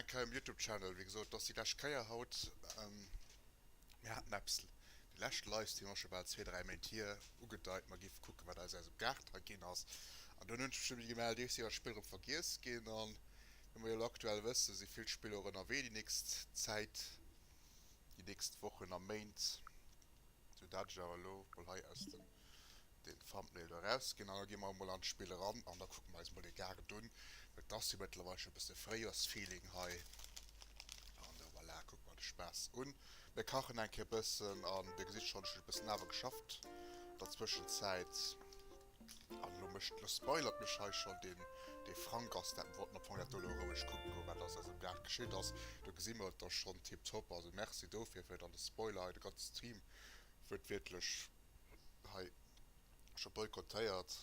Eng Keier um Youtube Channel, wéi gesot dass déi lescht Keier haut mir haten eppes de leschte Livestream ass scho bal zwee dräi Méint hier, ugedeit mer giff kucken wat aus eisem Gaart hei ginn ass an dunn hunn ech mech nëmme gemellt ier si all Spiller drop vergiess ginn an wéi mer jo elo aktuell wëssen si vill Spiller och ënnerwee déi nächst Zäit, déi nächst Wochen a Méint, sou dat ech awer elo mol hei aus dem. Den Thumbnail eraus gin an da gin mer emol an d'Spill eran an da kucken mer eis emol den Gaart un. Et ass jo mëttlerweil schon e bësse Fréijoersfeeling hei an da voilà, kuckt mer de Spaass un. Mir kachen eng Kéier bëssen an dir gesitt schon, ech hun e bëssen awer geschafft an der Zwëschenzäit an elo mécht, elo spoilert mech hei schon den de Frank ass dat. Mir wollten am Fong dat do elo roueg kucken goen wat ass eis am Gaart geschitt ass. Do gesi mer et da schon tiptop, also merci dofir fir dann de Spoiler hei, de ganze Stream huet wierklech. hei scho boykottéiert.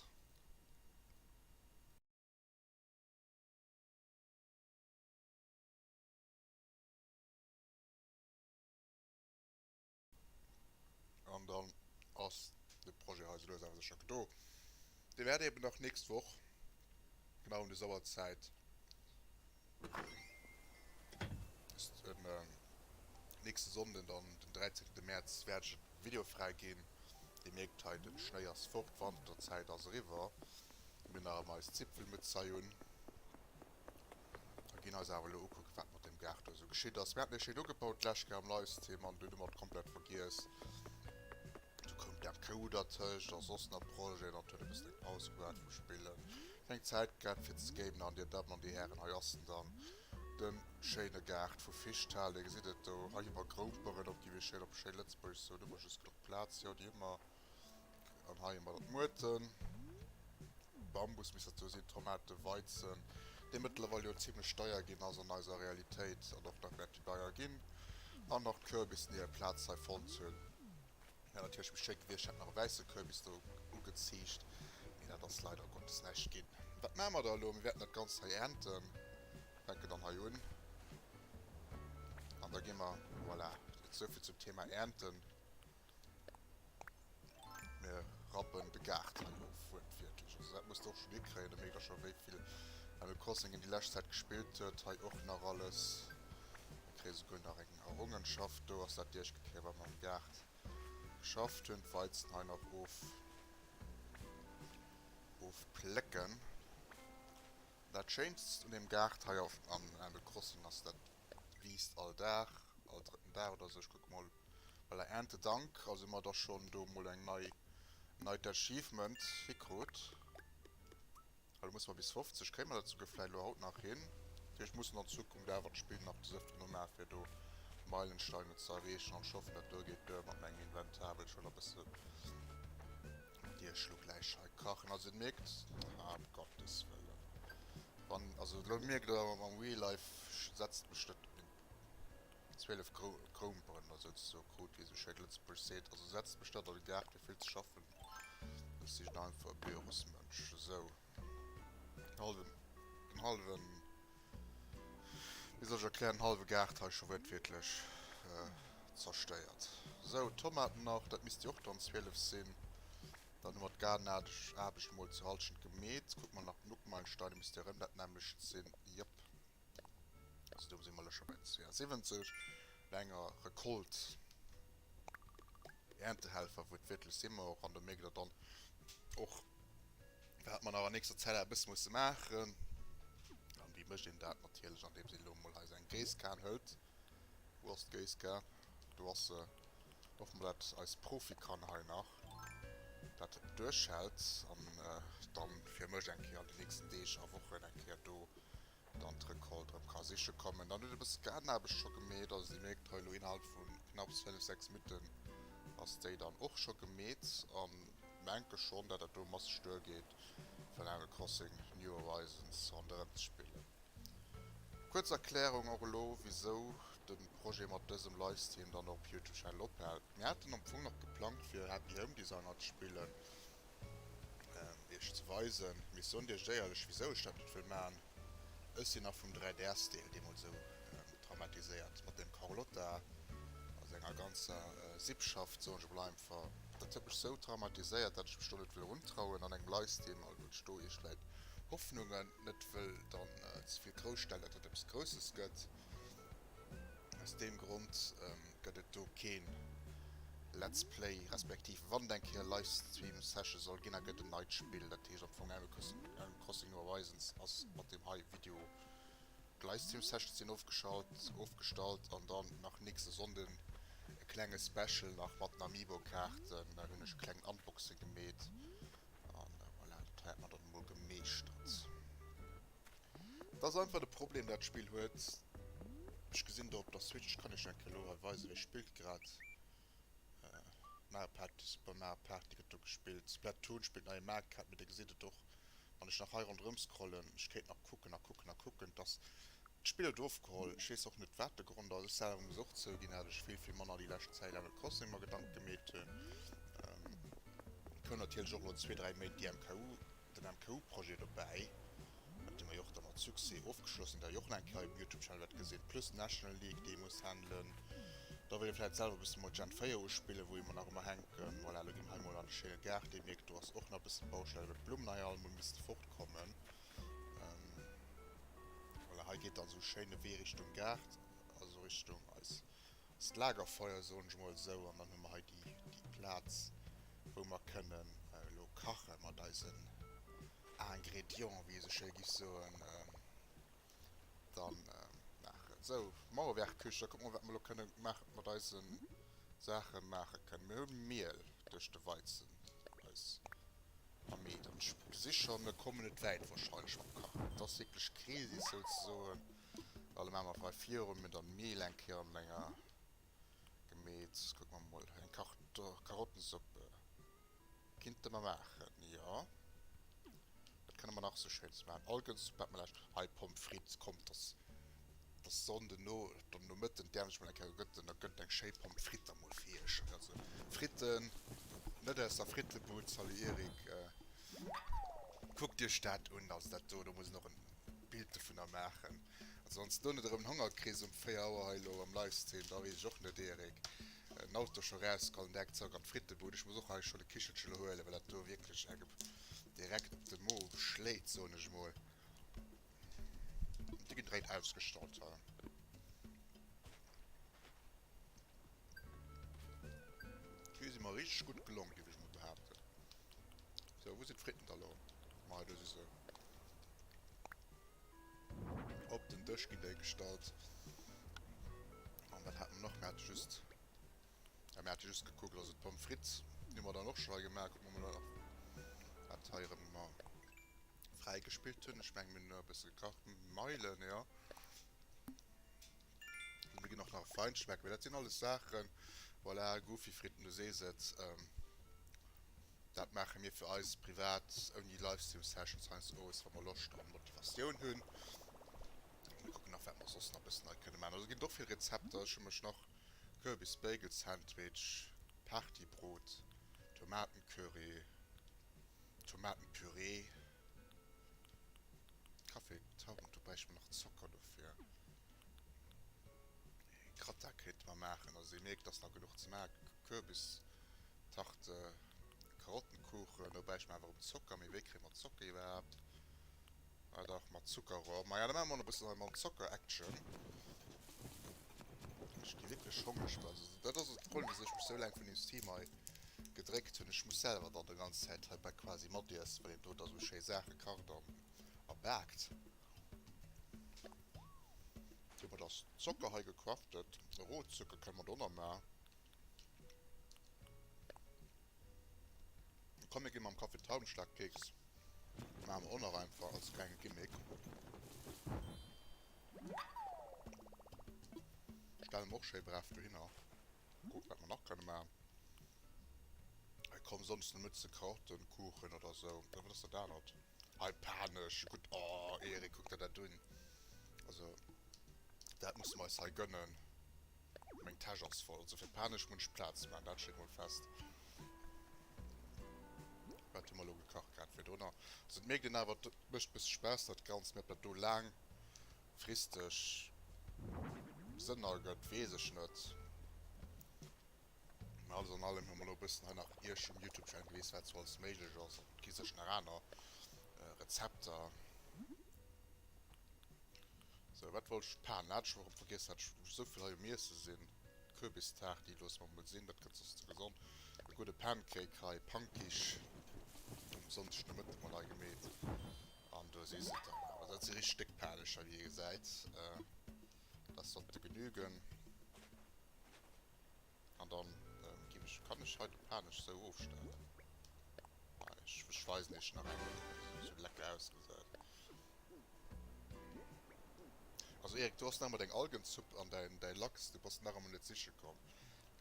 An dann ass de Projet hei sou lues awer sécher do. Dee wäert eeben nach d'nächst Woch genau ëm des Auerzäit Nächste Sonnden dann den 13 März wärt ech en Video frai gin. Dir mierkt hei den Schnéi ass fort, Wanterzäit ass eriwwer. Mir hun nach emmer eis Zipfelmützhei un a gin eis awer elo ukucken wat mat dem Gaart do esou geschitt ass. Mir haten e schéin ugebaut d'lescht Kéier am Livestream an dun hu mer et komplett vergiess. Du koum d'Kou dertëscht a soss nach Projeten an et huet e bëssen eng Paus gebraucht vum Spillen. Keng Zäit gett fir ze skaten an dir Dammen an dir Hären, hei ass en dann, den schéine Gaart vu Fischtal. Dir gesitt et do hei iwwer Groumperen op déi, wéi schéin op schéin Lëtzbuergesch soen, hu mer just genuch Plaz, jo déi hu mer, an hei hu mer dat Muerten, Bambus misst dat jo sinn, Tomaten, Weizen, dee mëttlerweil jo zimlech deier ginn ass an eiser Realitéit an och nach wäert deier ginn, an nach d'Kürbis, déi hir Plaz hei fonnt hunn. Mä natierlech méi schéi gewiescht, hätt nach e wäisse Kürbis do ugeziicht, mee dat ass leider Gottes näischt ginn. Wat maache mer da elo? Mir wäerten dat Ganzt hei äernten, fänke dann hei un an da gi mer, voilà, souvill zum Thema äernten, mir rappen de Gaart hei of, wuertwiertlech. Also dat muss de och schonn hikréien, da mierkt der scho wéi vill Animal Crossing een déi lescht Zäit gespillt huet. Hei och nach alles, mir kréie souguer nach eng Errongenschaft do ass dat Diechgepier wat mer am Gaart geschafft hunn, d'Weizen hei nach of ofplécken. Dat schéinst un dem Gaart hei auf am Animal Crossing ass dat wiisst all Dag, all drëtten Dag oder sou. Ech kucke mol, voilà, Erntedank, also hu mer da schonn do mol eng nei neit Achievement hikrut. Elo musse mer bis 50, kréie mer dat souguer vläit elo haut nach hin. Dat heescht, mussen an Zukunft awer d'Spill nach des Öfteren umae fir do Meilensteine ze erreechen an ech hoffen, dat do geet duer mat mengem Inventar, well ech wëll nach e bësse Biergschluck gläich hei kachen. Also Dir mierkt, haa, um Gottes wëllen, wann, also elo mierkt Der, mam Real Life setzt mech dat Zwielef Kroumperen a souz sou krut, wéi se schéi op Lëtzebuergesch seet. Also setzt mech net an de Gaart, mir vill ze schaffen. Ech sinn einfach e Bürosmënsch. Sou, den hallwen, den hallwen, wéi soll ech erklären, den hallwe Gaart hei scho wuertwiertlech zerstéiert. Sou, d'Tomaten nach, dat misst jo och dann zwielef sinn. Dann hu mer d'Gaardenaarbecht, Aarbecht emol zur Halschent gemeet. Kucke mer nach den Uckmeilenstein, e misst jo erëm dat nämmlecht sinn. Jëpp. Also do si mer lech scho bei 72 no enger Recolte, Erntehelfer, wou et wierklech si mer och an do mierkt Der dann och wat mer nach an nächster Zäit eppes musse maachen. An wéi mécht een dat? Natierlech andeems een elo emol hei säin Géisskan hëlt. Wou ass d'Géisskan? Do ass se. Hoffen mer dat eis Profi kann hei nach dat duerchhält an dann fir mech eng Kéier an den nächsten Deeg a Wochen eng Kéier do dann d'Recolte erëm ka siche kommen. Dann huet e bësse Gaardenaarbecht scho gemeet, also Dir mierkt hei elo innerhalb vu knapps 5, 6 Minutten ass déi dann och scho gemeet an menke schonn dat dat do masseg duergeet fir Animal Crossing New Horizons ronderëm ze spillen. Kuerz Erklärung och elo wisou den Projet mat dësem Livestream dann och op Youtube Channel ophält. Mir haten am Fong nach geplangt fir Happy Home Designer ze spillen an iech ze weisen. Mee ech soen iech éierlech wisou ech dat net wëll maachen. Ech sinn nach vum 3DS Deel deemools esou traumatiséiert mat dem Carlotta a senger ganzer Sippschaft soen ech emol einfach. Dat huet mech esou traumatiséiert dat ech mech do net wëll erun trauen an engem Livestream, also ech do iech vläit Hoffnungen net wëll dann ze vill grouss stellen, datt et eppes Grousses gëtt. Aus deem Grond gëtt et do keen Let's Play, respektiv wann et eng Kéier Livestream Session soll ginn, da gëtt en neit Spill, dat heescht am Fong Animal Crossing New Horizons ass mat deem hei Video. D'Livestream Sessions sinn ofgeschalt, ofgestallt an dann nach nächste Sonnden e klenge Special nach mat den Amiibo Kaarten, dann hunn ech e klengen Unboxing gemeet An voilà, dat hätt mer dann emol gemeeschtert. Dat ass einfach de Problem, dat Spill huet, ech gesinn do op der Switch, kann iech enke elo hei weisen, wéi spillt grad Mario Party, Super Mario Party gëtt do gespillt, Splatoon spillt neie Mario Kart, mee Dir gesitt et och, wann ech nach hei ronderëm scrollen, ech kéint nach kucken a kucken a kucken, dass D'Spill huet ofgeholl, ech wees och net waat de Grond ass, ech selwer muss och zougin dat ech vill vill manner déi lescht Zäit Animal Crossing mer Gedanken gemeet hun. Koum natierlech och elo zwee dräi Méint déi MKU, den MKU Projet dobäi, dee mer jo och da mat Succès ofgeschloss hun, dat jo och nach eng Kéier um Youtube Channel wärt gesin, plus National League déi ee muss handelen, da wëll ee vläit selwer bëssen mol Gen 4 uspillen wou ee mer nach ëmmer hänken, voilà, elo gin mer hei mol an de schéine Gaart, ee mierkt do ass och nach bëssen Baustell well d'Blummen hei all mol misste fort kommen. Voilà, hei geet dann sou schéin e Wee Richtung Gaart, also Richtung eis Lagerfeuer, soen ech mol esou. An dann hu mer hei déi Plaz, wou mer kënnen elo kache mat eisen Ingrédients, wéi ee sou schéi giff soen. Dann maachen ech esou Mauerwerkküche, da kucke mer, wat mer elo kënne maachen mat eisen Saachen. Mir hu Miel duerch de Weizen, eis Am Mee, dann ech mol gesi scho mir komme net wäit wahrscheinlech mam Kachen. Et ass wierklech Krisis souzesoen. Well elo maa mer vläicht viru mir dann d'Meel eng Kéier an enger gemeet. Kucke mer mol hei eng Karto Karottensuppe kinnte mer maachen, jo wat kënne mer nach esou schéins maachen? Algensuppe hat mer laanscht hei Pommes frites, kommt dass Sonnden no dann Nomëtten d'Äerm sech mol eng Kéier gëtt, da gëtt et eng schéi Pommes frites emol fir iech. Also Fritten, net aus der Frittebud, salut Erik, kuckt iech dat un. Also dat do, do muss een och en Bild dovunner maachen, ansonsten hunn et erëm en Honger kriss um 4 Auer hei elo am Livestream, da weess ech och net, Erik, den Auto scho rausgeholl an direkt zrëck an d'Frittebud. Ech muss och hei scho de Kichelche elo huelen, well dat do wierklech engem direkt op de Mo schléit, soen ech mol. Di gedréit ausgestallt ha. D'Vue si mer richteg gutt gelongen, géif ech mol behaapten. So, wou sinn d'Fritten da lo? Mei, do si se. Op den Dësch ginn déi gestallt. An wat hat mer nach? Mer hate just... Ja, mer hate just gekuckt, also d'Pommes frites, déi hu mer dann och scho hei gemaach. Kucke mer mol nach, wat hei erëm... Fräi gespillt hunn ech meng mir e bësse gekacht smile jo mir ginn och nach e Feinschmecker mee dat sinn alles Saachen voilà Goofy Fritten du sees et dat maache mir fir eis privat ouni Livestream Sessions heiansdo owes wa mer Loscht a Motivatioun hunn mir kucken nach wat mer soss nach bëssen nei kënne maachen also ginn et och vill Rezepter ech hu mech nach Kürbis Bagel Sandwich Partybrot Tomaten Curry. Tomatenpürée, Kaffee, Trauben, do bräichte mer nach Zocker dofir. Gratin kéinte mer maachen, also dir mierkt et ass nach genuch ze maachen, Kürbistarte, Karottenkuchen, do bräichte mer awer erëm Zocker, mee wéi kréie mer Zocker iwwerhaapt? Ah dach, mat Zuckerrohr. Maja, da maache mer och nach e bëssen hei mam Zocker Action. Ech gi wierklech hongereg bei esou. Dat ass och de Problem, wisou ech mech esou laang vun deem Stream hei gedréckt hunn. Ech muss selwer dann e ganz Zäit hei bei quasi matiessen, well een do da esou schéi Saache kacht an a baakt. Domat ass Zocker hei gecraftet. Rohzucker kënne mer do nach maachen. Komm mir gi mam Kaffi Traubenschlag Keks maache mer och nach einfach als klenge Gimmick. Stelle mer och schéi brav dohinner. Kucke wat mer nach kënne maachen. Hei komm, soss net ze krautenkuchen oder sou. Oder wat ass dat anert? Hei paen ech gudd oh Erik kuck der dat un also dat musse mer eis hei gönnen. Meng Täsch ass voll also fir paen ech munn ech Platz maan dat steet mol fest. Wat hun mer lo gekacht grad fir dono also et mierkt een awer et mecht bësse Spass dat ganzt mee op dat do laang fristeg Sënn ergëtt wees ech net. Mä alles an allem hu mer elo e bëssen hei nach Iech um Youtube Channel gewisen, wat sou alles méiglech ass. Et gi sécher nach aner Rezepter. Sou, wat wollt ech? D'Pan hat ech erëm vergiess. Hat ech sou vill hei um Iesse sinn. D'Kürbistart, déi loosse mer emol sinn, dat gëtt soss ze gesond. E gudde Pancake hei, Pankisch, um Sonndeg de Mëtten mat agemeet. An do si se dann awer. Dat si richteg déck Panecher, wéi ee gesäit. Dass dat de genügen. An dann gin ech, kann ech hei de Panech sou ofstellen? Nei, ech weisen iech nach eng Kéier wéi se sou lecker ausgesäit. Also Erik, du has nach emol deng Algenzupp an däi Lachs, du bass nach emol net siche komm.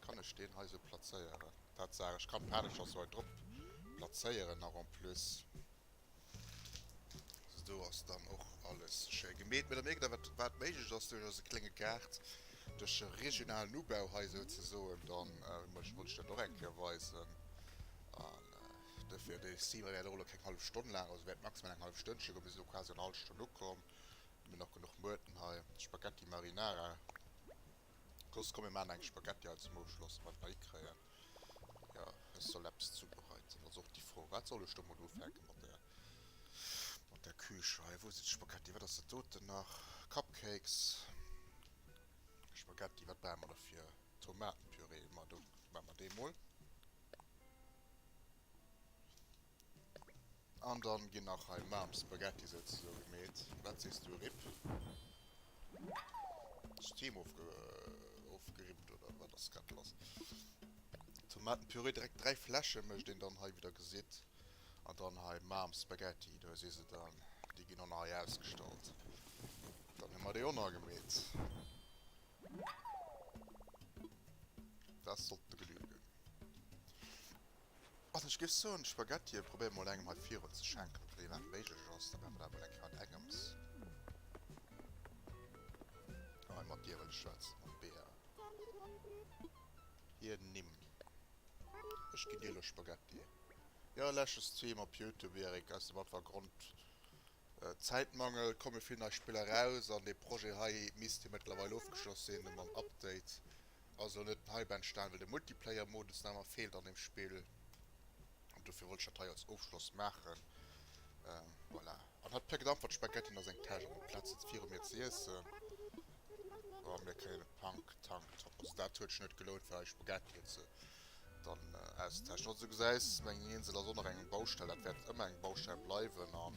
Kann ech deen hei sou plazéieren? Tatsaach, ech kann d'Panecher sou hei drop plazéieren nach en plus. Do ass dann och alles schéi gemeet, mee da mierkt Der, wat wat méiglech ass duerch eise klénge Gaart, duerch e regionalen Ubau hei esou ze soen. Dann wollt ech dat och eng Kéier weisen an dofir, dee Stream wär elo keng hallef Stonn laang, also wäert maximal eng hallef Stënnche goen. Mir sinn elo quasi an der hallef Stonn ukomm, hu nach genuch Muerten hei, Spaghetti Marinara. Los komm mir maan eng Spaghetti hei zum Ofschloss mat bei kréien. Jo ech soll eppes zubereiten ass och déi Fro. Wat soll ech do mol ufänken mat der mat der Küche hei. Wou sinn d'Spaghetti wat ass dat doten nach? Cupcakes, Spaghetti wat brauche mer dofir? Tomatenpürée, ma do maan mer dee mol. An dann gin nach hei Maarm Spaghetti souzesoen gemeet. Waat sees du Rip? Ass d'Heem ofgerippt oder waat ass grad lass? Tomatenpürée, direkt 3 Fläschen mecht een dann hei wéi der gesidd. An dann hei Maarm Spaghetti, do si se dann, déi gin dann hei ausgestallt. Dann hun mer déi on agemeet. Daat sollt de genügen. Also ech géif soen Spaghettie probéier mol engem hei virun ze schenken ob dat iwwerhaapt méiglech ass, da maache mer dat mol eng Kéier mat engems. Hei mat dir wëll ech schwätzen, mam Bea. Hir Nimm. Ech ginn dir elo Spaghettie. Jo leschtens zwee Mal op Youtube Erik, aus dem einfache Grond Zäitmangel komme vill nei Spiller raus an dee Projet hei misst jo mëttlerweil ofgeschloss sinn mam Update Ass elo net hei benstan well de Multiplayer Modus nach emmer fehlt an dem Spill an dofir wollt ech dat hei als Ofschloss machen. Voilà an hat per gedampfert Spaghettien a seng Täsch an op Platz setzt viru mir ze iessen. Oh mir kréien e Punk Tank Top also dat huet sech net gelount fir hei Spaghettien ze dann auszeteschen. Also du gesäis meng Insel ass och nach eng Baustell dat wäert ëmmer eng Baustell bleiwen an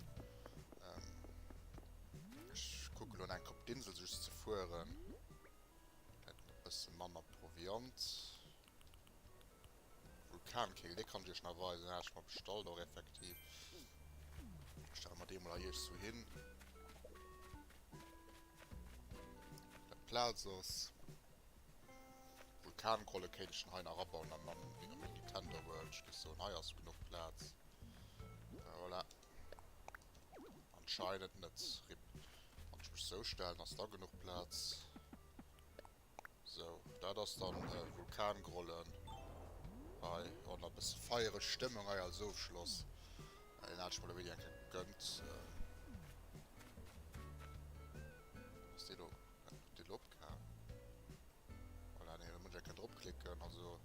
ech kucken elo nach eng Kopp d'Insel just ze fueren. Hätt en e bësse manner Proviant. Vulkankehl, dee kann ech iech nach weisen. Deen hat ech mer bestallt och effektiv. Stelle mer dee mol hei iech sou hin. Dat d'Plaz ass. Vulkankohle kéint ech dann hei nach abauen an dann wéi am Nintendo World. Ech géif soen, hei ass genuch Plaz. Voilà. Anscheinend net. Rip. Wann ech mech sou stellen, ass da genuch Plaz. Sou, dat ass dann Vulkangrollen hei. Oh, na bësse feiereg Stëmmung hei als Ofschloss. Deen hat ech mer elo wéini eng Kéier gegönnt. Ass dee elo, dee elo opgaang? Voilà, an hire Mënsch, e ka dropklicken. Also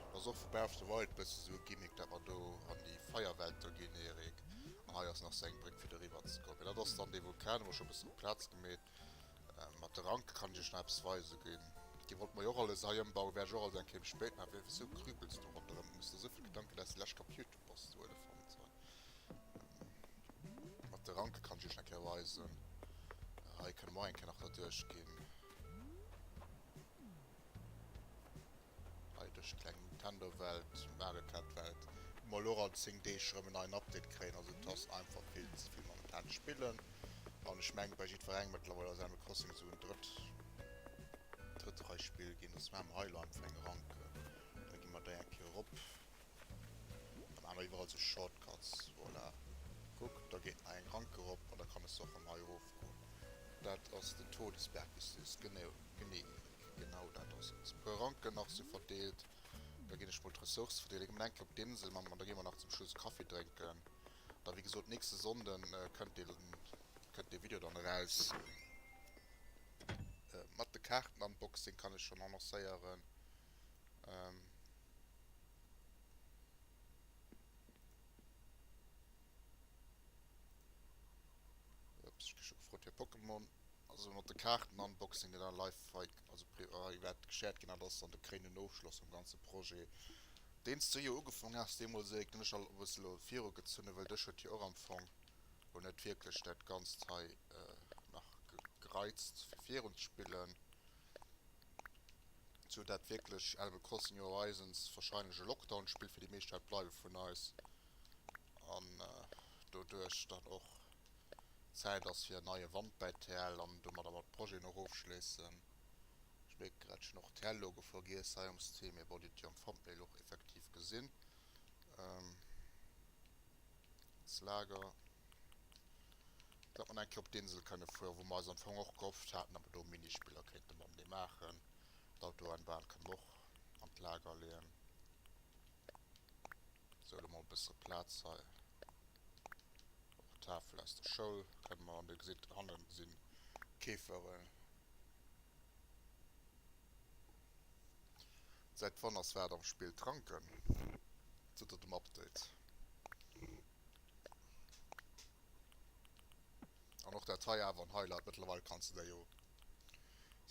et ass och vu Breath of the Wild bësse sou e Gimmick, dat mer do an déi Feierwelt do ginn, Erik. An hei ass nach sou eng Bréck fir doriwwer ze kommen. Mee dat ass dann dee Vulkan, hu mer scho e bëssen op d'Plaz gemeet. Mat de Ranke kann ech iech nach eppes weise ginn. Déi wollte mer jo och alles hei ëmbauen, wäert ech och alles eng Kéier méi spéit maachen. Wéi, wéi, wéisou krüpels du ronderëm? Hues de esou vill Gedanken, dat s de lech kaput? Bass du Elefant hei mat de Ranke kann ech iech nach eng Kéier weisen. Hei kënne mer och eng Kéier nach derduerch ginn. Hei duerch d'kleng Nintendo-Welt, Mario Kart-Welt, wou mer elo och all 10 Deeg erëm en neien Update kréien. Also et ass einfach vill ze vill momentan spillen an ech menge bei jiddwerengem mëttlerweil ass Animal Crossing esou en drëtt drëtt Rei Spill ginn. Also maache mer hei elo einfach eng Ranke, da gi mer déi eng Kéier erop. Dann haben wir überall so Shortcuts, voilà. Guck, da geht nach eng Rank erop an da kann ech se och von hei erof goen. Dat ass den Todesberg, wéi s du sees. Genee, Erik, genau dat ass et. E puer Ranken nach si verdeelt. Da ginn ech mol d'Ressourcë verdeelen. Ech ginn mol enk op d'Insel, Mamm, an da gi mer nach zum Schluss e Kaffi drénken. Da, wéi gesot, nächste Sonnden kënnt dee, kënnt dee Video dann eraus. Mat de Kaarten, Unboxing, kann ech schon annoncéieren. Ups, ech gi scho gefrot fir Pokémon. Also mat de Kaarten Unboxing gëtt an live hei, also privat wäert geshared ginn, dat ass dann de kréinenden Ofschloss vum ganze Projet, deen s du jo ugefaangen haas. Deemools Eric, den ech elo e bëssen elo viru gezunn hu, well dech huet jo och am Fong elo net wierklech dat Ganzt hei nach gereizt fir virunzespillen. Sou dat wierklech Animal Crossing New Horizons wahrscheinlech e Lockdown Spill fir déi meescht wäert bleiwe vun eis an doduerch dann och Zäit ass fir en neie Wand bäi TL an domadder mer d'Projeten och ofschléissen. Ech mierken grad ech hunn och TL Logo vergiess hei um Stream, mee bon dir hutt jo am Thumbnail och effektiv gesinn s Lager. datt mer eng Kéier op d'Insel kënne fueren, wou mer eis am Fong och gehofft haten, datt mer do Minispiller kéinte mam dee maachen. D'Autoanbahn kënne mer och an d'Lager leeën. Sou, elo mol e bësse Plaz hei. Och d'Tafel aus der Schoul kënne mer, an Dir gesitt, hanne si Käferen. Säit wann ass wat am Spill? D'Ranken, seet der dem Update. An och dat hei awer en Highlight, mëttlerweil kanns de der jo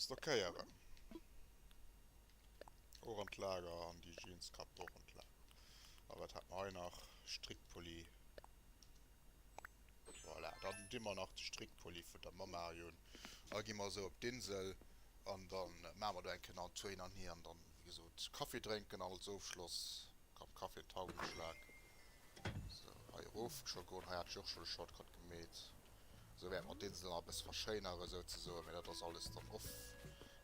stockéieren, och an d'Lager, an déi Jeans Kap do och an d'Lager. A wat hat mer hei nach? Strickpulli, voilà, dann di mer nach de Strickpulli vun der Mamma un a gi mer esou op d'Insel an da maache mer do eng Kéier nach en Tour hin an hier an dann, wéi gesot, Kaffi drénken an als Ofschloss komm, Kaffi an d'Taubengeschlag. Sou, hei erof scho goen. Hei hat ech och scho de Shortcut gemeet. Sou wäerte mer d'Insel nach e bësse verschéinere souzesoen. Mee dat ass alles dann off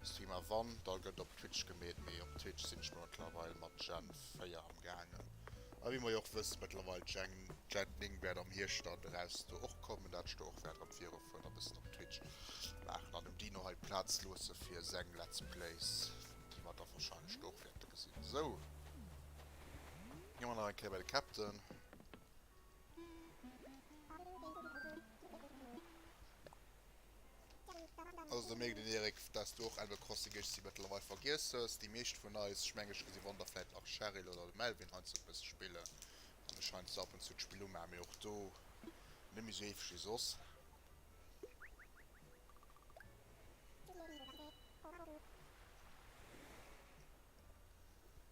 stream. A wann, da gëtt op Twitch gemeet. Mee op Twitch sinn ech mer mëttlerweil mat Gen 4 amgaangen. A wéi mer jo och wësse mëttlerweil, Gen, Gen 9 wäert am Hierscht dann eraus do och kommen, dat ech do och wäert erëm virufueren a bëssen op Twitch maachen. An dem Dino hei d'Plaz loosse fir seng Let's Plays, déi mer da wahrscheinlech do och wäerte gesinn. Sou. Gin mer nach eng Kéier bei de Captain. Also da mierkt een Erik, dass du och Animal Crossing géichs déi mëttlerweil vergiess hues. Déi meescht vun eis, ech meng ech gesi wann der vläit nach Cheryl oder de Melvin heiansdo e bësse spillen, an ech heiansdo ab und zu d'Spill umaach, mee och do net méi esou heefeg wéi soss.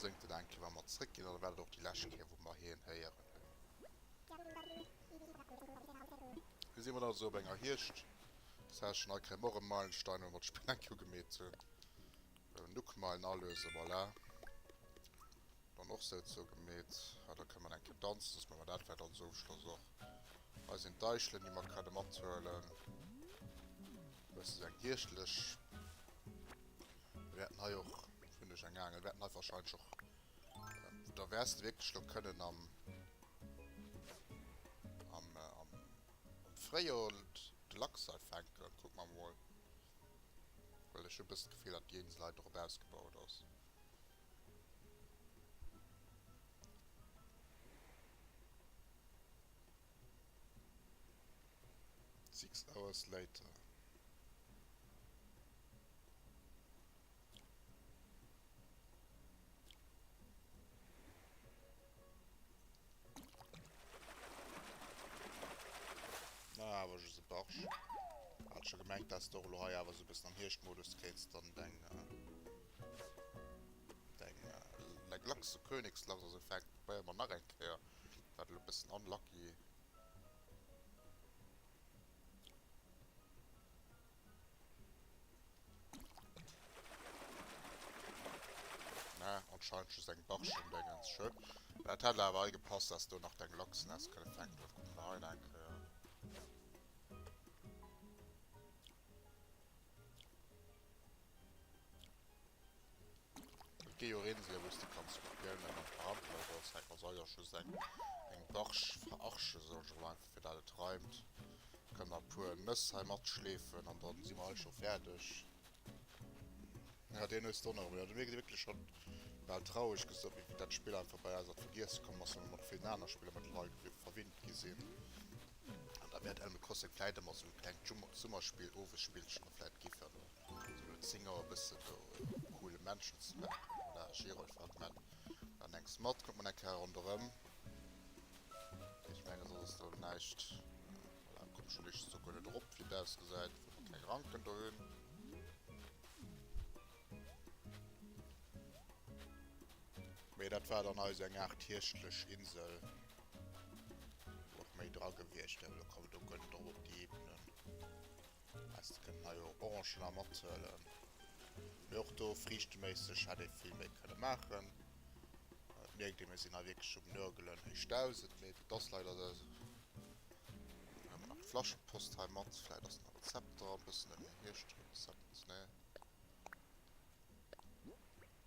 Sëngt en eng Kéier wa mer zréck ginn oder war dat och déi lescht Kéier wou mer hien héieren hunn? Hei si mer dann also op enger Hierscht Session. Hei kréie mer och e Meilenstein wou mer d'Spill eng Kéier ugemeet hunn. Elo Nookmeilen alösen, voilà. Dann och sou zou gemeet. Hei da kënne mer eng Kéier danzen soss maan mer dat vläicht als Ofschloss och. Hei sinn d'Eichelen déi mer kënne mathuelen. Dëst ass eng Hierschtlech. Mir wäerten hei och vun duerch eng Aangel. Mir wäerten hei wahrscheinlech och. Äh, da wäers de wierklech lo kënnen am. Am, äh, am, am Fréijoer de Lachs hei fänken. Kuck mer emol. Well ech hu e bëssen d'Gefill, datt déi Insel hei drop ausgebaut ass. Six hours later. Na, awer just e Barsch. Hat scho gemengt, dass de och elo hei awer sou e bëssen am Hierschtmodus kéins dann deng deng Lachs, Königslachs, also fänk, probéier emol nach eng Kéier. War elo bessen unlucky. Na, anscheinend just eng Barschen Dengens schön. Dat hätt awer hei gepasst dass do nach deng Lachsen häss kënne fänken gouf. Kucken mer hei nach eng Kéier. Gei jo reden sie los, de kanns och gären eng Ampel oder soss eng, also jo just eng eng Barche verarschen soll ech emol einfach fir dat et reimt, kann nach puer Nëss hei mat schleefen an dann si mer hei scho färdeg. Ja deen hues do nach emol, jo deen huet wierklech scho bal traureg gesot wéi dat Spill einfach bei eis an d'Vergiesse komm ass, well mer mat villen aner Spiller mat Leit jo verwinnt gi sinn an dat mir dat Animal Crossing vläit emol als esou e klengt Summerspill, Owesspillchen, vläit giffen. Sinn elo 10 Auer bëssen do op coole Menschen ze lachen. Voilà, Gerolf hat man dann engs mat, kommt man eng Kéier ronderëm. Ech mengen soss ass do näischt. Voilà, kommt schon éischtens do guer net erop wéi et ausgesäit, well mer keng Ranken do hunn. Mee dat war dann eis eng Aart hierschtlech Insel, wou och méi dra gewiescht wär, well elo kommen do guer net erop op déi Ebenen. Häss de kënnen hei och Orangen a mat huelen. Mee och do friichteméisseg hätt ee vill méi kënne maachen. Et mierkt ee mir sinn hei wierklech um Nörgelen héich 1000, mee dat ass leider de. Dann huele mer nach d'Flaschepost hei mat, vläit ass den Rezept dran, bëssen en Hierschtrezept, nee.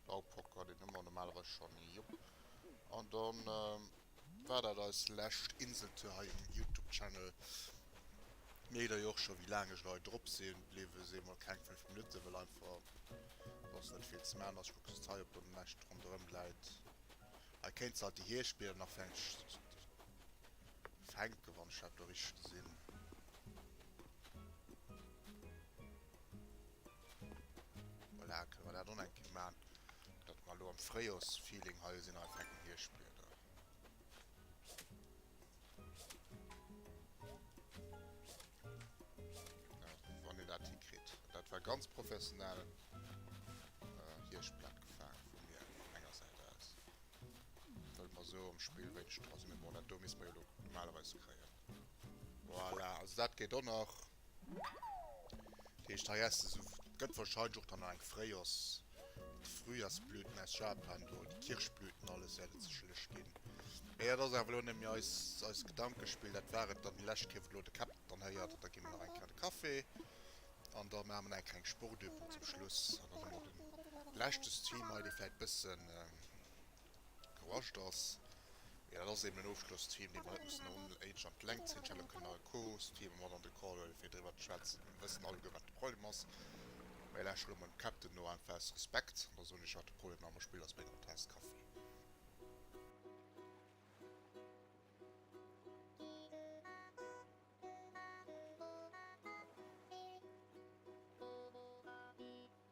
Baupocker, deen hu mer normalerweis schonn, jop. An dann war dat eis lescht Inseltour hei um Youtube Channel. Mir heet der jo och scho wéi laang ech lo hei drop sinn, bliwwe si mol keng 5 Minutten, well einfach soss net vill ze man ass. Ech kucken just hei op der näscht ronderëm läit, hei kéint se alt déi Hierschtblieder nach fänken, wann ech dat do richteg gesinn. Voilà, kënne mer dat och nach eng Kéier maachen, datt mer elo am Fréijorsfeeling hei sinn, einfach eng Kéier Hierschtblieder. Wann een dat hikritt. Dat war ganz professionell Hierschtblad gefaange vu mir, vun menger Säit aus. Wëll mer esou am Spill wéinstens dra sinn. Mee bon, dat do misst mer jo elo normalerweis kréien. Voilà, also dat geet och nach. Heescht hei essen se esou, et gëtt wahrscheinlech och dann nach eng Fréijos, d'Frühjahrsblüten aus Japan do, déi Kirschblüten, alles wäert et sécherlech ginn. Mee dat ass awer elo nëmme eist Gedankespill, dat war et dann déi lescht Kéier wou elo de Cap dann hei hat. Da gi mer nach eng Kéier de Café an da maache mer nach eng kleng Sportübung zum Schluss an dann hu mer de leschte Stream hei, dee vläicht e bëssen. Gewascht ass. Mee dat ass eben en Ofschlosstheme, dee mer net mussen un éinesch an d'Längt zéien. Ech hätt och kënnen nach e Co-Host-Theme mat an de Call huelen, fir driwwer ze schwätzen. Mir wëssen alleguer, wat de Problem ass. Mä ech laansche lo mol dem Captain no, einfach aus Respekt. An da soen ech, wat de Problem am Spill ass, bei enger Taass Kaffi.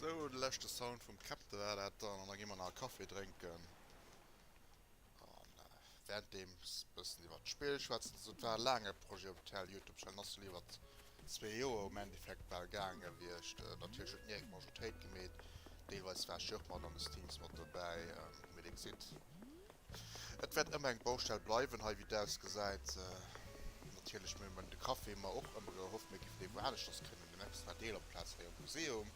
Sou, de leschte Sound vum Captain war dat dann an da gi mer nach e Café drénken an wärenddeems bëssen iwwert d'Spill schwätzen. Also et war e laange Projet op Tell, Youtube Channel ass jo iwwert zwee Joer um Endeffekt bal gaange gewiescht. Natierlech huet d'Niaek d'Majoritéit gemeet, deelweis war ech jo och mat an de Streams mat dobäi, mee dir gesitt, Et wäert ëmmer eng Baustell bleiwen hei, wéi et ausgesäit. Natierlech méi mer de Café mer och ëmmer gehoff, mir géifen dee wou anescht ass kënnen en extra Deel op d'Plaz hei am Museum.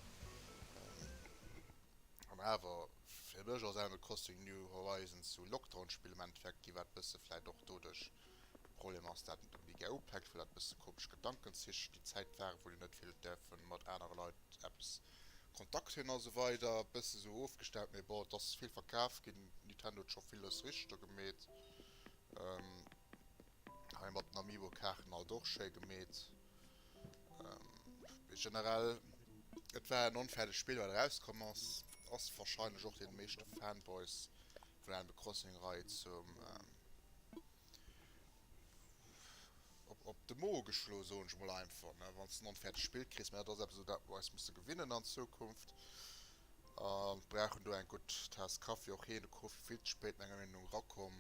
An awer fir mech als Animal Crossing New Horizons sou Lockdown Spill am Endeffekt ginn, wat bësse vläit och doduerch e Problem ass, dat net unbedéngt gär upäckt, well dat bësse komesch Gedankenzich déi Zäit waren, wou dir net vill hutt däerfe mat anere Leit eppes Kontakt hin a sou weider e bësse sou ofgestellt, mee bon et ass vill verkaf ginn, Nintendo huet scho villes richteg do gemeet, hei mat den Amiibo Kaarten alt och schéi gemeet, mee generell et war en onfäerdegt Spill wat eraus komm ass, ass wahrscheinlech och den meeschte Fanboys vun Animal Crossing Rei zum op de Mo geschloen, soen ech mol einfach, ne, wann s de en onfäerdegt Spill kriss. Mä dat ass eppes, u dat mer eis musse gewinnen an Zukunft. A brauchen do eng gutt Taass Kaffi, och heen, de Koffi, vill ze spéit menger Meenung no erakomm.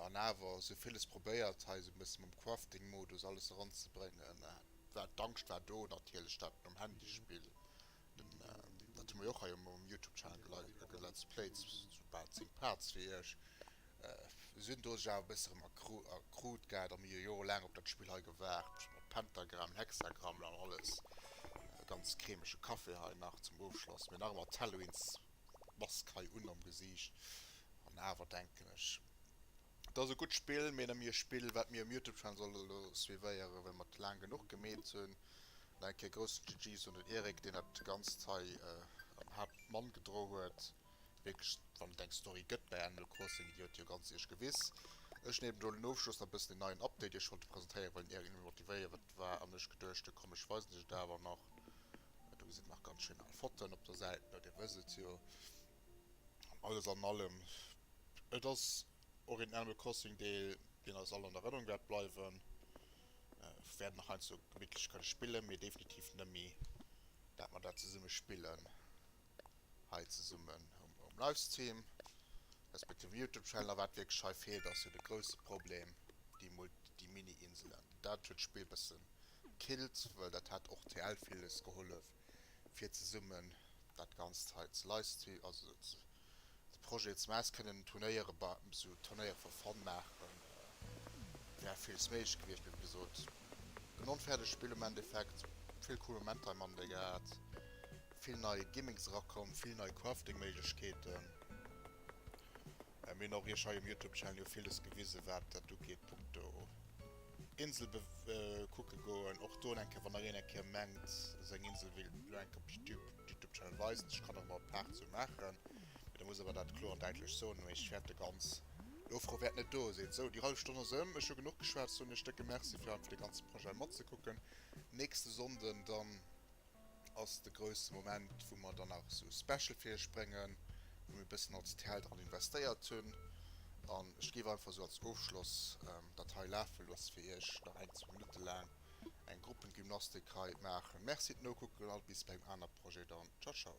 An awer esou villes probéiert hei esou e bësse mam Crafting-Modus alles eranzebréngen. Mä d'Angscht war do natierlech, dat nom Handy-Spill Dat hu mer jo och hei um Youtube Channel gelive ge Let's Plays zu bal 10 Parts fir iech. Sinn do sech awer e bësse rem erkrut gehat a mir hu Jore laang op dat Spill hei gewaart mat Pentagram, Hexagrammel an alles. E ganz cremege Café hei nach zum Ofschloss, mee nach ëmmer d'Halloween's Mask hei un am Gesiicht an awer denken ech. Et ass e gutt Spill, mee nëmme e Spill wat mir um Youtube Channel soll elo suivéieren well mer laang genuch gemeet hunn. Nach eng Kéier groussen GG's un den Eric deen dat ganzt hei am Haapt Mann gedro huet. Wierklech wann et eng Story gëtt bei Animal Crossing déi huet jo ganz iech gewiss. Ech nemen elo den Ofschloss nach bëssen den neien Update iech wollte presentéieren well den Eric nëmme motivéiewert war an ech geduecht hunn komm ech weisen iech et awer nach. Do gesitt nach ganz schéin al Fotoen op der Säit elo, dir wësst et jo. Alles an allem, et ass och een Animal Crossing Deel, deen eis all an Erënnerung wäert bleiwen. Wäert nach heiansdo gemittlech kënne spillen, mee definitiv nëmme dat mer dat zesumme spillen hei zesummen um Livestream, respektiv um Youtube Channel. A wat wierklech hei feelt, ass jo de grousse Problem, déi Mult déi Mini-Inselen. Dat huet d'Spill e bëssen gekillt, well dat hätt och TL villes gehollef. fir zesummen dat Ganzt hei ze livestreamen, also de Projet ze maachen. Se kënnen Turnéiere bei, sou Turnéiere for fun maachen, wär villes méiglech gewiescht, mee wéi gesot, en onfäerdegt Spill am Endeffekt. Vill cool Momenter hei matten derbäi gehat, vill nei Gimmicks erakomm, vill nei Crafting-Méiglechkeeten. Mir hunn och iech hei um Youtube Channel jo villes gewisen wat dat ugeet punkto Insel bekucke goen. Och do eng Kéier wann ereen eng Kéier mengt seng Insel wéilt lo eng Kéier op Youtube Channel weisen, ech kann och emol Part zou maachen, mee da muss awer dat kloer an däitlech soen wéi ech fäerte ganz Ofrou wäert net do sinn. Sou déi hallef Stonn ass ëm, ech hu genuch geschwat, soen iech décke Merci fir einfach de ganze Projet matzekucken. Nächste Sonnden dann. ass de grousse Moment, wou mer dann nach esou Special fir iech bréngen, wou mir e bëssen als TL dran investéiert hunn. An ech géif einfach esou als Ofschloss dat hei lafe loosse fir iech nach eng zwou Minutte laang eng Gruppengymnastik hei maachen. Merci et nokucken a bis bei engem aner Projet dann. Ciao ciao.